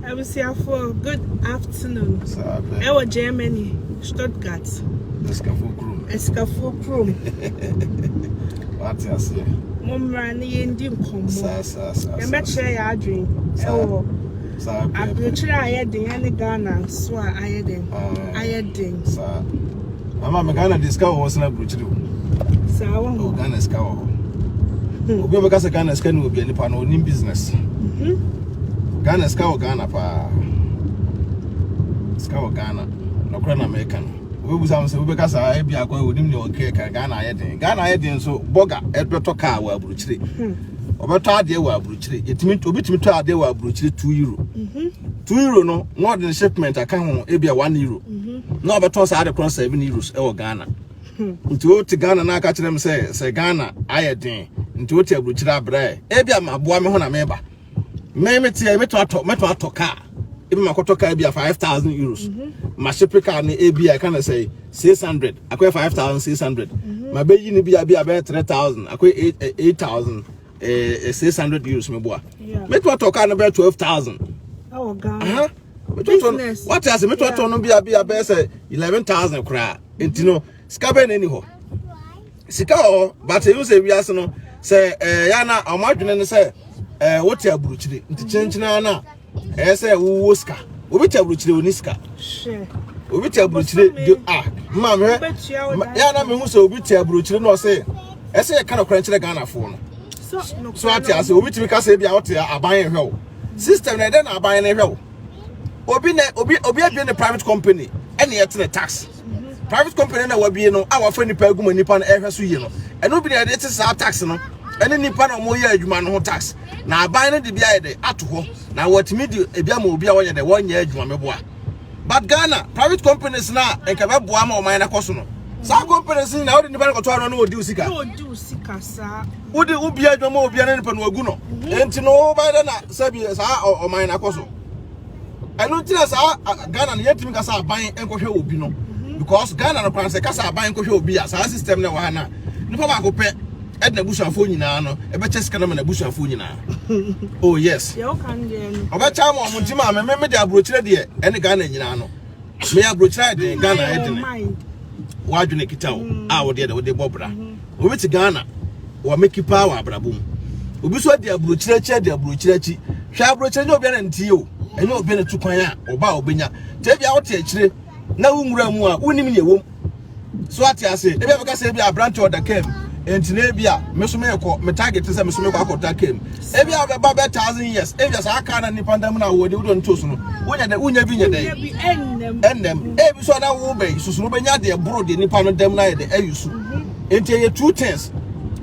abusuafoɔ good afternoon ɛwɔ germany stuttgart ɛsikafoɔ kurom ɛsikafoɔ kurom wate aseɛ mo mmara no yɛndi nkɔmmɔ yɛbɛkyerɛ yɛ adwen ɛwɔ aburokyerɛ a ayɛ den ɛne ghana nso a ayɛ den ayɛ den Mama me Ghana de sika wɔ hɔ sena burukyiri o. Saa wɔ hɔ. Ghana sika wɔ hɔ. Hmm. Obi bɛka sɛ Ghana sika ne wɔ bia nipa no onim business. Mhm. Ghana sika wɔ Ghana paa. Sika wɔ Ghana. Na kora na mɛka no. Obebu sa sɛ wobɛka saa ebi akɔ onim ne ɔkɛ ka Ghana ayɛ den. Ghana ayɛ den so bɔga ɛbɛtɔ kaa wɔ aburukyire. Hmm. Ɔbɛtɔ adeɛ wɔ aburukyire. Yɛtumi obi tumi tɔ adeɛ wɔ aburukyire 2 euro. 2 mhm. euro no na ɔde ne shipment aka ho ebi a 1 euro. Mhm. na ɔbɛtɔn saa ade korɔ seven euros wɔ ghana nti wote ghana na aka kyerɛ me sɛ sɛ ghana ayɛ den nti wote aburukyerɛ abrɛ ebi a maboa me ho na meba me meteɛ mɛtɔ atɔ mɛtɔ atɔ kaa ebi ma kɔtɔ kaa bi a five thousand euros ma shipe kaa no ebi a ɛka na sɛ six hundred akɔyɛ five thousand six hundred ma bɛyi no bi a bi a bɛyɛ three thousand akɔyɛ eight eh, eight thousand eh, eh, six hundred euros meboa mɛtɔ atɔ kaa no bɛyɛ twelve thousand. Ɛwɔ Ghana. business wate ase metɔtɔ no bia bia bɛyɛ sɛ eleven thousand koraa nti no sika bɛn na ɛni hɔ sika wɔ bata ehu sɛ wiase no sɛ ɛɛ yɛn na wɔn adwene no sɛ ɛɛ wote aburukyire nti kyenkyenaa na ɛyɛ sɛ wowɔ sika obi te aburukyire wɔ ne sika obi te aburukyire de a mmaa mehwɛ yɛn na mehu sɛ obi te aburukyire na ɔsɛ ɛsɛ yɛ ka na kora nkyerɛ ghanafoɔ no so ate ase obi tumi kasa ebi a ɔte aban yɛ hwɛ o. Sister na ɛdɛ na aban no hwɛ wo. Obi na obi obi abie ne private company ɛna yɛte ne tax. Private company na wabie no a wafa nipa aguma nipa no ɛhwɛ so yie no. Ɛno bi na yɛde te saa tax no ɛne nipa na wɔn yɛ adwuma no ho tax. Na aban no de bi ayɛ dɛ ato hɔ na wɔatumi de ebi ama obi a wɔyɛ dɛ wɔnyɛ adwuma mɛboa. but Ghana private companies na nka bɛ boa ma ɔman na kɔ so no saa companies ni na odi nipa no kɔtɔ ano na odi usika odi ubi adwuma obi ne nipa no agu no enti no wo ba na sɛbi saa ɔman na kɔ so ɛno nti na saa Ghana no yɛtumi kasa aban nkɔhwɛ obi no because Ghana no kwan sɛ kasa aban nkɔhwɛ obi a saa system na wɔ ha na nipa baako pɛ ɛde na busuafoɔ nyinaa no ɛbɛkyɛ sika no ma na busuafoɔ nyinaa oh yes ɔbɛkya ma ɔmo nti maa me me de aburokyerɛ deɛ ɛne ghana nyinaa no meyɛ aburokyerɛ ayɛ den ghana ayɛ den wadwene kita o mm. a wɔdeɛ de wɔde bɔ bra mm-hmm. obi te ghana wɔmeki paa wɔ abrabɔ mu obi nso de aburokyerɛ akyi adi aburokyerɛ akyi hwɛ aburokyerɛ nyɛ obiara ntie o ɛnyɛ obiara tu kwan a ɔba a ɔbɛnya tɛ bi a wote akyire na wo nwura mu a wonim nea ɛwɔ mu so ate ase ebi a bɛka sɛ ebi aberante ɔda kam nti na ebi a me so mekɔ me target sɛ me so mekɔ akɔda kam ebi a bɛba bɛ thousand years ebi a saa kaa na nipa nda mu na wɔde wodɔ no to so no wonya dɛ wonya bi nyɛ dɛ ɛnam ebi so na wo bɛn susu no bɛnya deɛ boro deɛ nipa no dɛm na yɛ dɛ ayi so nti ɛyɛ two things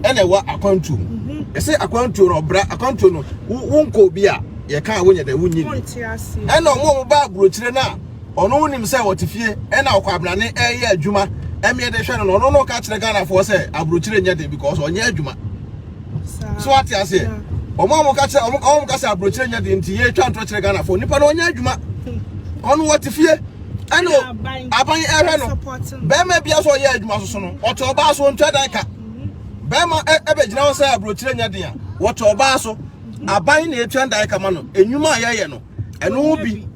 ɛna ɛwɔ akwantuo mu ɛsɛ akwantuo no ɔbra akwantuo no wo nkɔ obi a yɛka a wonyɛ dɛ wonyi ɛna ɔmo ɔmo ba aburokyire no a ɔno wonim sɛ ɔte fie ɛna ɔkwabrane ɛyɛ adwuma ɛmeɛ de hwɛ no ɔno no ka kyerɛ Ghanafoɔ sɛ aburokyire nyɛ den because ɔnyɛ adwuma so ate aseɛ ɔmo a ɔmo ka kyerɛ ɔmo ɔmo ka sɛ aburokyire nyɛ den nti yɛ twa ntorɔ kyerɛ Ghanafoɔ nipa no ɔnyɛ adwuma ɔno ɔte fie ɛna aban ɛhwɛ no bɛrima bia so ɔyɛ adwuma soso no ɔte ɔbaa so ntwa dan ka bɛrima ɛbɛgyina hɔ sɛ aburokyire nyɛ den a wɔte ɔbaa so aban na ɛtwa dan ka ma no enwuma a yɛyɛ no ɛno bi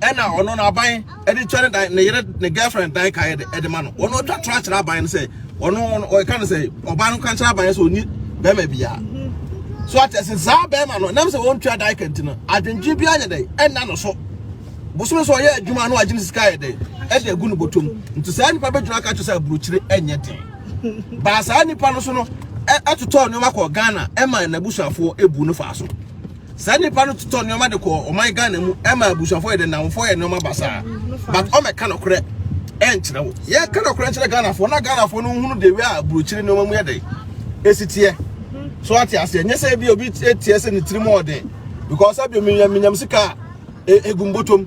ɛna ɔno no aban ɛde twa ne dan ne yere ne girlfriend dan ka ɛde ma no ɔno ɔtwa tra kyerɛ aban no sɛ ɔno ɔka no sɛ ɔbaa no ka kyerɛ aban sɛ ɔni bɛrima biara so ate sɛ saa bɛrima no nam sɛ wɔntwa dan ka nti no adwendwen bi anyɛ dɛn ɛna no so bosome so ɔyɛ adwuma no agye ne sika yɛ dɛn ɛde agu no bɔtɔm nti saa nipa bɛgyina ka kyerɛ sɛ aburokyire ɛnyɛ den baa saa nipa no so no ɛtotɔɔ nneɛma kɔ ghana ɛma n'abusuafoɔ ɛbu no faa so Saa nipa no totɔ nneɛma de kɔ ɔman Ghana mu ɛma abusuafo yɛ de nnamfo yɛ nneɛma basaa but ɔmɛka nɔkorɛ ɛnkyerɛ wo yɛ ka nɔkorɛ nkyerɛ Ghanafoɔ na Ghanafoɔ no nhunu de wia aburokyire nneɛma mu yɛ de esi teɛ so ate aseɛ nyɛ sɛ ebi obi teɛ sɛ ne tirim ɔden because ebi omi nyam nyam sika a e, egum botom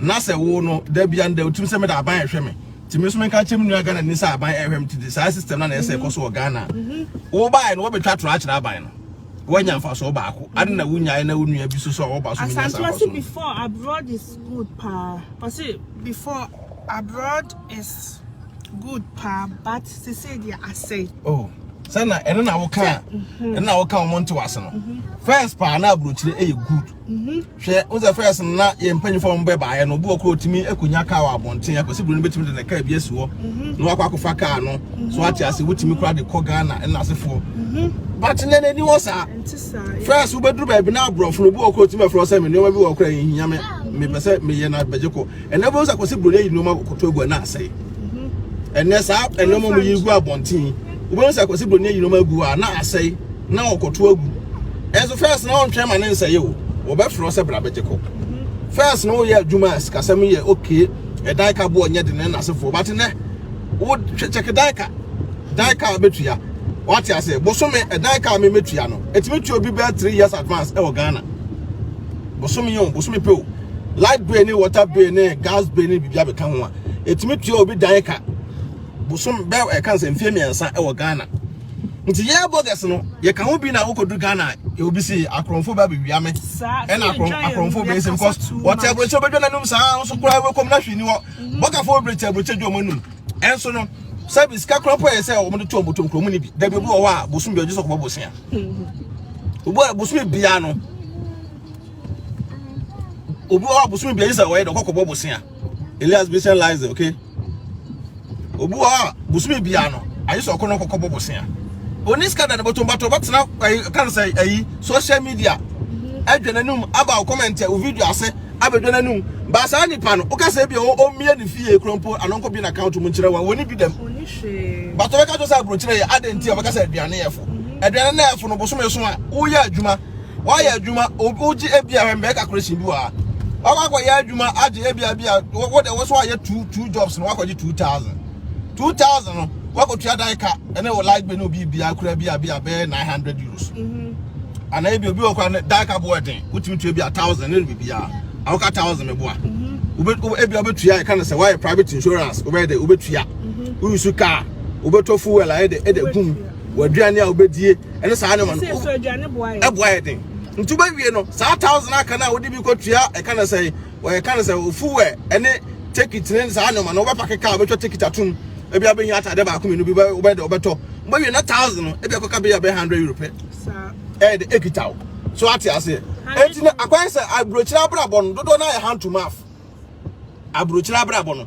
na sɛ wo no dabia no da otim sɛ meda aban ɛhwɛ me nti me nso menka nkyɛ me nua Ghana ni sɛ aban ɛhwɛ me tete saa system na na ɛsɛ ɛkɔ so wɔ Ghana wobaeɛ no wɔbɛtwa torɔ akyerɛ aban no woanya mfasoɔ baako ade na wonyaeɛ na wo nua bi so so a wɔba so menya saa baso before abroad is good paa ɔse before abroad is good paa but se sɛ deɛ asɛe oh sɛ na ɛno na woka ɛno na woka wɔn nte wase no first paa na aburokyire ɛyɛ good Mhm. Hwɛ, wo sɛ first no na yɛn mpanyinfoɔ wɔn bɛ baayɛ no, obi wɔ koro otumi akunya kaa wɔ abɔnten, akwasi buru no betumi de ne kaa bi asi hɔ, mhm. na wakɔ akɔfa kaa no, mhm. so ate ase wotumi kora de kɔ Ghana ɛna asefoɔ. Mhm. But nɛ n'ani hɔ saa. First wobɛduru baabi na aborɔfo no obi wɔ koro otumi afrɛ sɛ me nneɛma bi wɔ kora yɛn hinya me mepɛ sɛ meyɛ na bɛgye kɔ. Ɛnɛ wobɛhu sɛ akwasi buroni ayi nneɛma koto agu ɛna asɛe. Ɛnɛ saa nneɛma ɔmo yi gu abɔnten. Wobɛhu sɛ akwasi buroni ayi nneɛma agu hɔ a na asɛe na ɔkɔto agu. Ɛnso fɛs na ɔntwɛn ma ne nsɛe o. Wɔbɛfrɛ sɛ bra bɛgye kɔ. Fɛs na woyɛ adwuma a sikasɛm yɛ okay. Ɛdan ka boɔ nyɛ de ne n'asefoɔ. But nɛ wo kyɛke dan ka. Dan ka bɛtua. Wate ase bosome ɛdan ka me mɛtua no. Ɛtumi tua obi bɛɛ three years advance ɛwɔ Ghana. Bosome o bosome pɛ o. light bill ne water bill ne gas bill ne biribi abɛka ho a ɛtumi tua obi dan ka bosom bɛ ɛka sɛ mfeɛ mmiɛnsa ɛwɔ ghana nti yɛ bɔgɛs no yɛka ho bi na wokɔdu ghana obi si akorɔmfo bɛ abɛwia me ɛna akorɔmfo bɛ ɛsɛ because wɔte aburokyɛ bɛdwa no anum saa nso koraa wɛkɔm na hwee ni hɔ bɔgafoɔ bɛbrɛ te aburokyɛ dwa ɔmo anum ɛnso no sɛbi sika korɔ mpo yɛ sɛ ɔmo de to ɔmo tom kurɔmu no bi dabi obi wɔ hɔ a bosom bi ɔgye sɛ ɔkɔbɔ bosia obi a bosom biara no obi wɔ abosom bi sɛ ɔyɛ dɛ ɔkɔ kɔbɔ bosea elias bi sɛ lies okay obi wɔ a bosom bi ano ayɛ sɛ ɔkɔ no kɔkɔ bɔ bosea oni sika da ne bɔtɔ bɔtɔ bɛtena ayi kan sɛ ayi social media ɛdwa n'anum aba o comment o video ase abɛdwa n'anum baasa nipa no woka sɛ bi o ɔmmie ne fie kuro mpo ano nkɔ bi na account mu nkyerɛ wɔn wɔn bi dɛm bàtɔ bɛka to sɛ aburokyerɛ yɛ adɛn ti a bɛka sɛ aduane yɛ fo aduane na yɛ fo no bosom yɛ so a woyɛ adwuma Woayɛ adwuma, wogye ebia hwɛ mbrɛ calculation bi wɔ ha. Wakɔ akɔyɛ adwuma agye ebia bi a wo de wo so ayɛ two two jobs no wakɔgye two thousand. Two thousand no wakɔtua dan ka ɛne wo light bill ne obi bia kura bi a bi a bɛyɛ nine hundred euros. Mm-hmm. Anaa ebi obi wɔ kora ne dan ka bo ɛden wotumi tua bi a thousand ne biribi a awoka thousand ne boa. Mm-hmm. Wobɛ ebi a wobɛtua ɛka no sɛ wayɛ private insurance wobɛyɛ dɛ wobɛtua. Mm-hmm. Woyi su kaa wobɛtɔ fuel ayɛ dɛ ɛdɛ gum. w'aduane a wobɛdie ne saa nneɛma no so aduane boa yɛ ɛboa yɛ den nti wobɛwie no saa thousand aka no a wode bi kɔtua ɛka no sɛ wɔyɛ ka no sɛ ofuwɛ ɛne tekit ne saa nneɛma no wobɛpa keka a wobɛtwa tekit atom ebi abɛhia atade baako mmienu bi wobɛdɛ wobɛtɔ wobɛwie na thousand no ebi akɔka bɛyɛ bɛyɛ hundred euro pɛ ɛyɛ de ekita wo so ate aseɛ eti na akwan sɛ aburokyerɛ abrabɔ no dodoɔ no ayɛ hand to mouth aburokyerɛ abrabɔ no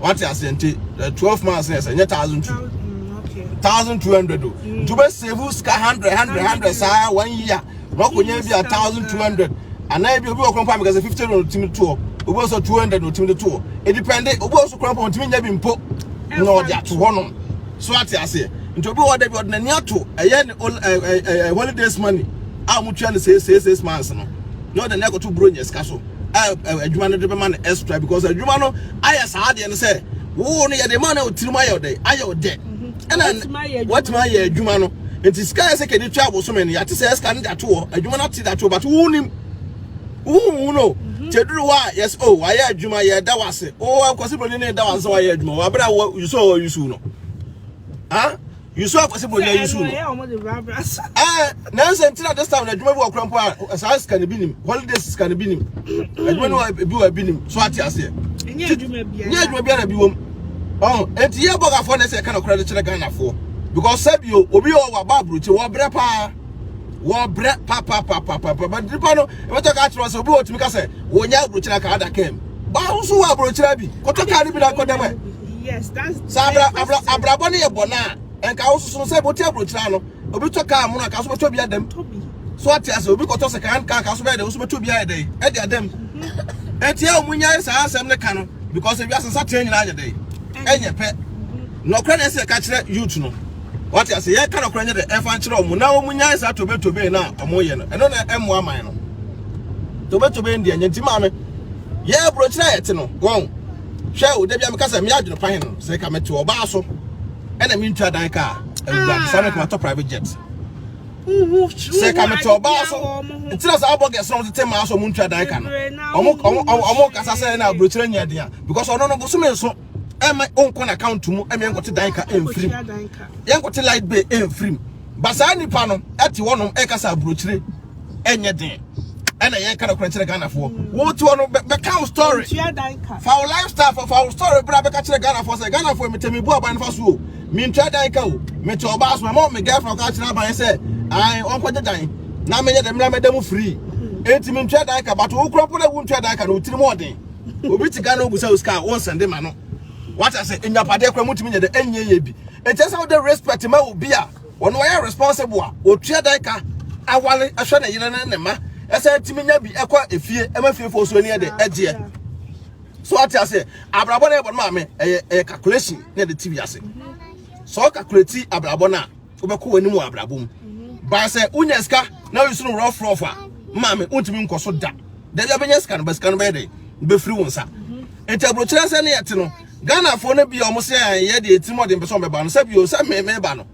wate aseɛ nti eh, twelve months na ɛsɛ nyɛ thousand two mm, thousand two hundred o mm. nti wobɛ save sika hundred hundred hundred saa one year na wakɔnya bi a thousand two hundred anaa bi obi wɔ kɔn pa mi kɛse fifty na otimi toɔ obi wɔ so two hundred na otimi de toɔ edipɛnde obi wɔ so kɔn pa otimi nya bi mpo na ɔde ato hɔ nom so ate aseɛ nti obi wɔ dɛ bi ɔde n'ani ato ɛyɛ ne holidays money a wɔn tua no six six six months no na ɔde n'ani akoto buro nyɛ sika so. a adwuma no de bɛma no extra because adwuma no ayɛ saa adeɛ no sɛ wo no yɛde ma no wo tirim ayɛ ɔdɛ ayɛ ɔdɛ mhm. ɛna watumi ayɛ adwuma no nti sika yɛ sɛ kɛde tua abosome no yɛate sɛ sika no de ato hɔ adwuma no ate de ato hɔ but wo nim wohu no mhm. kyɛ duru hɔ a yɛsɛ o oh, wayɛ adwuma yɛda wo ase o oh, akwasi broni ne da wo ase sɛ wayɛ adwuma wɔ abere a wɔ yusɔ wɔ yusu no ah Yusu akwasi bɔ nya yusu no. Eh, nansa ntina this time na adwuma bi wɔ kura mpo a saa sika no bi nim. Holiday sika no bi nim. Adwuma no bi wɔ bi nim. So ate ase. Nya adwuma bi. Nya adwuma bi na bi wom. Oh, enti ye boga fo na se ka na kura de kyerɛ Ghana fo. Because sabio obi o wa ba bruti wo bre pa. Wo bre pa pa pa pa pa. But nipa no e beto ka kyerɛ se obi otumi ka se wo nya bruti na ka ada kem. Ba wo so wa bruti na bi. Koto ka ni bi na kodem. Yes, that's sɛ abra abra abrabɔ no yɛ bɔ na nka wososo no sɛ bote aburokyira no obi tɔ kaa mu no nka so bɛtɔ bi adam so ate ase obi kɔtɔ sɛ kan kaa ka so bɛyɛ dɛ wo so bɛtɔ bi ayɛ dɛ ɛde adam ɛti a wɔn nyɛ saa asɛm no ka no because ebi asesa tee nyinaa ayɛ dɛ ɛnyɛ pɛ nɔkora na ɛsɛ ɛka kyerɛ youth no wate ase yɛ ka nɔkora nyɛ dɛ ɛfa nkyerɛ wɔn na wɔn nyɛ saa tobetobe na wɔn yɛ no ɛno na ɛmo aman no tobetobe ndi ɛnyɛ nti maame yɛ aburokyira yɛ te no wɔn. hwɛ o da bi a meka sɛ me adwene pa he no sɛ ka mete ɔbaa so ɛna mentwa dan ka a awurade saa meka matɔ private jet sɛ ka mete ɔbaa so ntina saa bɔgɛs na ɔmotete maa so ɔmontwa dan ka no ɔmo kasa sɛ na aburokyerɛ nyɛ den a because ɔno no bosome nso ɛma ɔnkɔ no account mu ɛma yɛnkɔte dan ka ɛmfirim yɛnkɔte light bay ɛmfirim ba saa nipa no ɛte hɔnom ɛkasa aburokyerɛ ɛnyɛ den ɛna yɛ ka nɔkorɛ kyerɛ ghanafoɔ wotoɔ no bɛka wo story fa wo lifestyle fa wo story bra bɛka kyerɛ ghanafoɔ sɛ ghanafoɔ metɛ mebu aban fa so o mentua dan ka o mete ɔbaa so ɛma me girlfriend ka kyerɛ aban sɛ ae ɔnkɔgye dan na meyɛ dɛ mmra mɛda mu free enti mentua dan ka bato wo kora mpo na wontua dan ka no wotiri mu ɔden obi te ghana obusa wo sika a wonsɛnde ma no wata sɛ nyapadeɛ kora motumi nyɛ dɛ ɛnyɛ yɛ bi ɛkyɛ sɛ wode respect ma obi a Wɔn a wɔyɛ responsible a wɔtua dan ka aware hwɛ ne yere ne ne mma ɛsɛ tumi nya bi ɛkɔ efie ɛma fiefo so ani ɛde ɛgyeɛ so ate ase abrabɔ na ɛbɔ no maame ɛyɛ ɛyɛ calculation na ɛde ti bi ase so calculate abrabɔ na wobɛkɔ wɔn anim wɔ abrabɔ mu baa sɛ wonya sika na woyi so no rough rough a maame wontumi nkɔ so da dɛbi abɛnya sika no bɛ sika no bɛyɛ dɛ bɛfiri wo nsa nti aburokyerɛ sɛ ne yɛte no Ghanafoɔ no bi a wɔn sɛ yɛ deɛ tirim ɔde mpɛ sɛ wɔbɛba no sɛ bio sɛ me meba no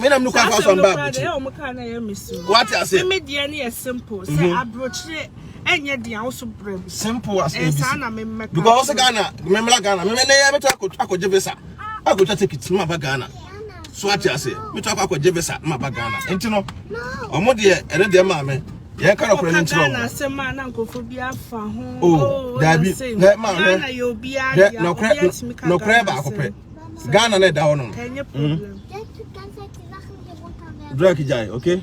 me nam no kwan fa so mba abuti wate ase me deɛ no yɛ simple sɛ mhm. aburokyerɛ ɛnyɛ deɛ ahosuo brɛ mu simple as abc ɛnsa na me mmɛka because Ghana me mmla Ghana me mmɛ ne yɛ bɛtɔ akɔgye visa akɔtwa ticket ma ba Ghana so ate ase metɔ akɔ akɔgye visa na maba ghana nti no ɔmo deɛ ɛne deɛ maame yɛn ka nɔkora no nkyerɛ ɔmo asɛm a na nkɔfo bi afa ho o oh, oh, daabi hɛ maame hɛ nɔkorɛ nɔkorɛ baako pɛ ghana na ɛda hɔ nom drug gyae okay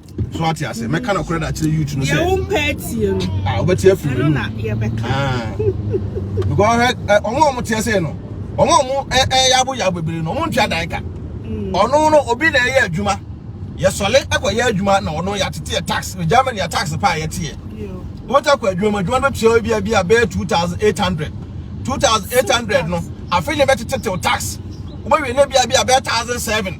so ate ase mɛka no korɛ de akyerɛ youth no sɛ yɛwo mpɛ atie no a wobɛte afiri no na yɛbɛka because ɔhwɛ ɔmo a ɔmo teɛ sei no ɔmo a ɔmo ɛyɛ aboyabo bebree no ɔmo ntwa dan ka mm. ɔno no obi na ɛyɛ adwuma yɛsɔle akɔyɛ adwuma na ɔno yɛateteɛ tax ne germany yɛ tax pa a yɛteɛ wota kɔ adwuma mu adwuma no bɛtua bi a bi a bɛyɛ 2800 2800 no afei ne bɛtetetew tax wobɛwie ne bia bi a bɛyɛ 1007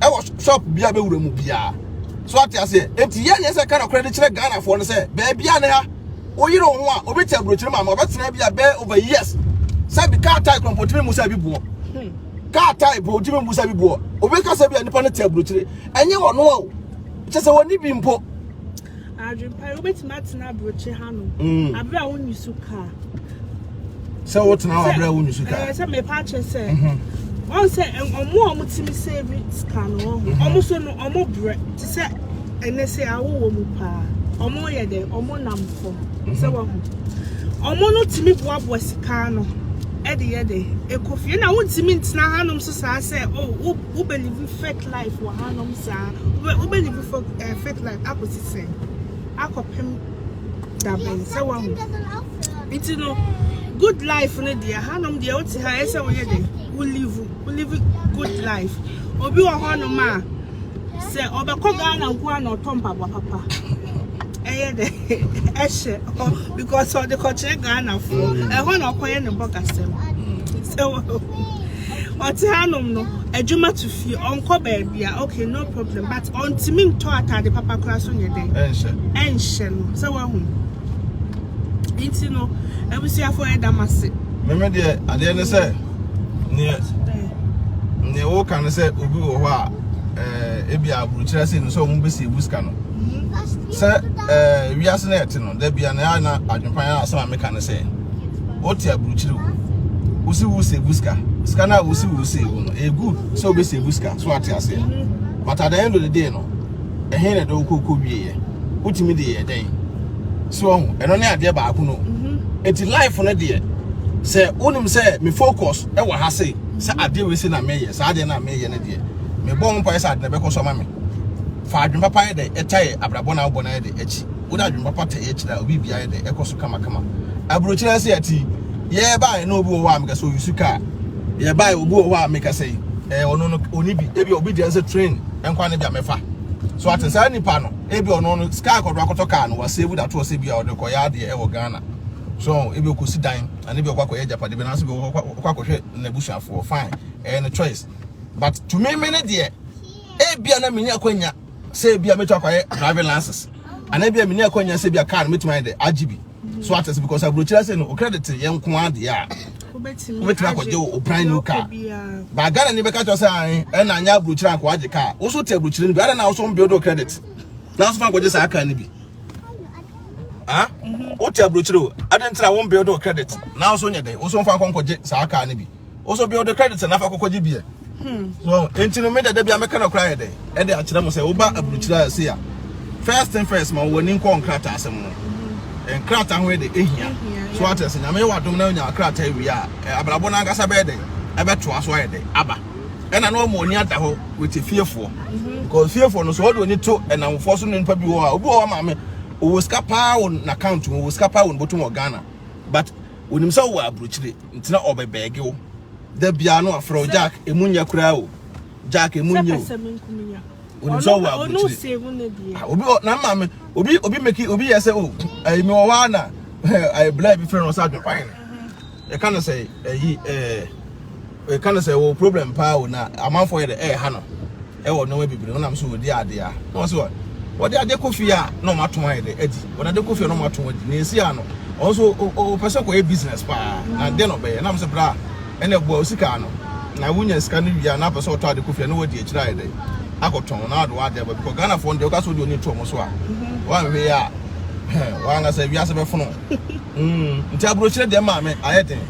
ɛwɔ shop bi a bɛwura mu biara so ate aseɛ enti yɛ neɛ sɛ ka nokorɛ de kyerɛ ghanafoɔ no sɛ baabi a ne ha woyere wo ho a obi te aburokyire ma ma ɔbɛtena bi a bɛɛ over years sɛ bi kaa tae korɔmpo tumi mu sɛ bi boɔ kaa tae po tumi mu sɛ bi boɔ obi ka sɛ bi a nipa no te aburokyire ɛnyɛ wɔn o kyɛ sɛ wɔn ni bi mpo Adwempa yi, wobɛtumi atena aburokyi hanom mm. aberɛ a wonni su kaa. Sɛ wotena hɔ aberɛ a wonni su kaa. Ɛɛ sɛ mepa akyɛ sɛ. Mm-hmm. Wɔn sɛ ɔmo a ɔmo tumi save sika no wɔ hɔ. Ɔmo so no ɔmo brɛ te sɛ ɛnɛ sɛ awowɔ mu paa. Ɔmo yɛ dɛ ɔmo nam fam sɛ mm-hmm. wɔn ho. Ɔmo no tumi boaboa sika no ɛde yɛ dɛ ekɔ fie na wontumi ntena hanom so saa sɛ o oh, wo wobɛlivi fake. Faith life wɔ hanom saa. Wobɛdi bu fɔ eh, faith life akɔsi sɛn akɔpem dabɛn sɛ wahu nti no good life no deɛ hanom deɛ wote ha ɛsɛ woyɛ dɛ wo live wo live good life obi wɔ hɔnom a sɛ ɔbɛkɔ ghana nko a na ɔtɔ mpaboa papa ɛyɛ dɛ ɛhyɛ hɔ because ɔde kɔkyerɛ ghanafoɔ ɛhɔ na ɔkɔyɛ ne bɔgasɛm sɛ wɔ Ɔte hanom no, adwuma to fie, ɔnkɔ baabi a, okay, no problem. But ɔntumi ntɔ atade papa koraa so nyɛ dɛn? Ɛnhyɛ. Ɛnhyɛ no. Sɛ wahu. Nti no, abusuafo ɛda m ase. Meme deɛ, adeɛ ne sɛ, neɛ, neɛ woka ne sɛ obi wɔ hɔ a, ɛɛ, ebi a aburukyerɛ se no sɛ wɔn bɛsi ebu sika no. Sɛ ɛɛ, wiase na ɛte no. Da bia na na adwenpan a asɛm a meka ne sɛ wote aburukyiri o wosi wo sɛ bu sika sika no a wosi wo sɛ bu no ɛyɛ good sɛ wobɛsɛ bu sika so ate aseɛ but at the end of the day no ɛhe na ɛdɛ wokɔkɔ wieɛ wotumi de yɛ dɛn so ɔho ɛno ne adeɛ baako no ɛti life no deɛ sɛ wonim sɛ me focus ɛwɔ ha se sɛ adeɛ wei se na meyɛ saa adeɛ na meyɛ no deɛ mebɔ wo mpae sɛ ade na ɛbɛkɔ so ama me fa adwen papa yɛ dɛ ɛtae abrabɔ na wobɔ no yɛ dɛ akyi wo de adwene papa tɛɛ kyerɛ a obi bia yɛ dɛ ɛkɔ so kama kama aburokyerɛ sɛ ɛte yi yɛ bae na obi wɔ hɔ a meka sɛ oyi su kaa yɛ bae obi wɔ hɔ a meka sɛ ɛɛ ɔno no oni bi ebi obi deɛ sɛ train nkwa ne bia mɛfa so ate saa nipa no ebi ɔno no sika akɔdo akɔtɔ kaa no wɔ save datoɔ sɛ bia ɔde kɔyɛ adeɛ ɛwɔ Ghana so ebi ɔkɔsi dan ɛne bi ɔkɔ akɔyɛ japade bi nanso bi ɔkɔ akɔhwɛ n'abusuafoɔ fine ɛyɛ ne choice but to me me ne deɛ ebia na menya kwanya sɛ ebi a mɛtumi akɔyɛ driving license anaa ebi a mini akɔnya sɛ ebi a car no mɛtumi ayɛ dɛ agye bi so ate sɛ because aburokyerɛ sɛ no o credit yɛ nko adeɛ a wobɛtumi akɔgye o brand new car ba ghana ni bɛka kyerɛ sɛ ae ɛna anyɛ aburokyerɛ anko agye car wo so te aburokyerɛ no bi adɛ na wo so mbuild o credit na so fa nkɔgye saa car no bi ah wote aburokyerɛ o adɛ ntina wo mbuild o credit na wo so nyɛ dɛ wo so mfa nkɔgye saa car no bi woso bia wode credit na fa kɔkɔgye bia so enti no me dada bia meka no koraa yɛ dɛ ɛde akyerɛ mo sɛ woba aburukyiri a ɛse a first thing first ma wɔn ani nkɔ nkrataa asɛm no nkrataa ho yɛ dɛ ehia so ate ase nyame yɛ wadom na onya krataa wie a abrabɔ no ankasa bɛyɛ dɛ ɛbɛtoa so ayɛ dɛ aba ɛna na wɔn ani ada hɔ wɔte fiefoɔ because fiefoɔ no so wɔde wɔn ani to ɛnamfoɔ so ne nipa bi wɔ hɔ a obi wɔ hɔ maame owó sika paa wɔ n'account mu owó sika paa wɔ ne bɔtɔ mu wɔ Ghana but onim sɛ wɔ aburukyiri Nti na ɔbɛ bɛɛge wo. Da biara no afrɛ wo Jack emu nyɛ koraa o. Jack emu nyɛ o. Onim sɛ ɔwɔ aburukyire. Ah, obi na mma me obi obi meki obi yɛ sɛ o. Ayi mi wɔ hɔ a na ayi blɛ bi frɛ no sɛ adwekwan. Ɛka no sɛ ayi ɛɛ ɛka no sɛ wɔ problem paa o na amanfoɔ yɛ dɛ ɛɛha no. Wɔ nnoɔma bebree no nam sɛ wɔdi adeɛ a na wɔn sɛ wɔde adeɛ kɔ fie a na wɔn atɔn ayɛ dɛ adi wɔn adeɛ kɔ fie a na wɔn atɔn adi na esi ano wɔn nso wɔpɛ sɛ kɔyɛ business paa na deɛ na ɔbɛyɛ nam sɛ bra ɛna ɛboa osika ano na wonya sika no wie a na apɛ sɛ ɔtɔ adeɛ kɔ fie a na wɔadi akyire ayɛ dɛ akɔtɔn na ɔde adeɛ ba bikɔ Ghana foɔ no deɛ ɔka sɛ ɔde ɔni to wɔn so a wɔn ahwɛ a wɔn ankasa wiase bɛfono. Mm, nti aburokyire deɛ maa me ayɛ den.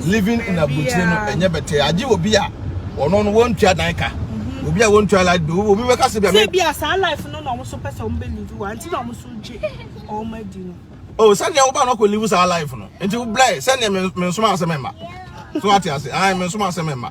Living in aburokyire no ɛnyɛ bɛtɛ. Agye obi a ɔno no wɔntua dan ka. Mhm. Obi a wɔntua light bill, obi bɛka sɛ bi a me. Sɛ bi a saa life no na wɔn so pɛ sɛ wɔn bɛ live wɔ, nti na wɔn so gye wɔn adi no. Oh, sɛnea woba no kɔ live saa life no. Nti wo blɛ, sɛnea me nsoma asɛm mma. So ate ase, ae, me nsoma asɛm mma.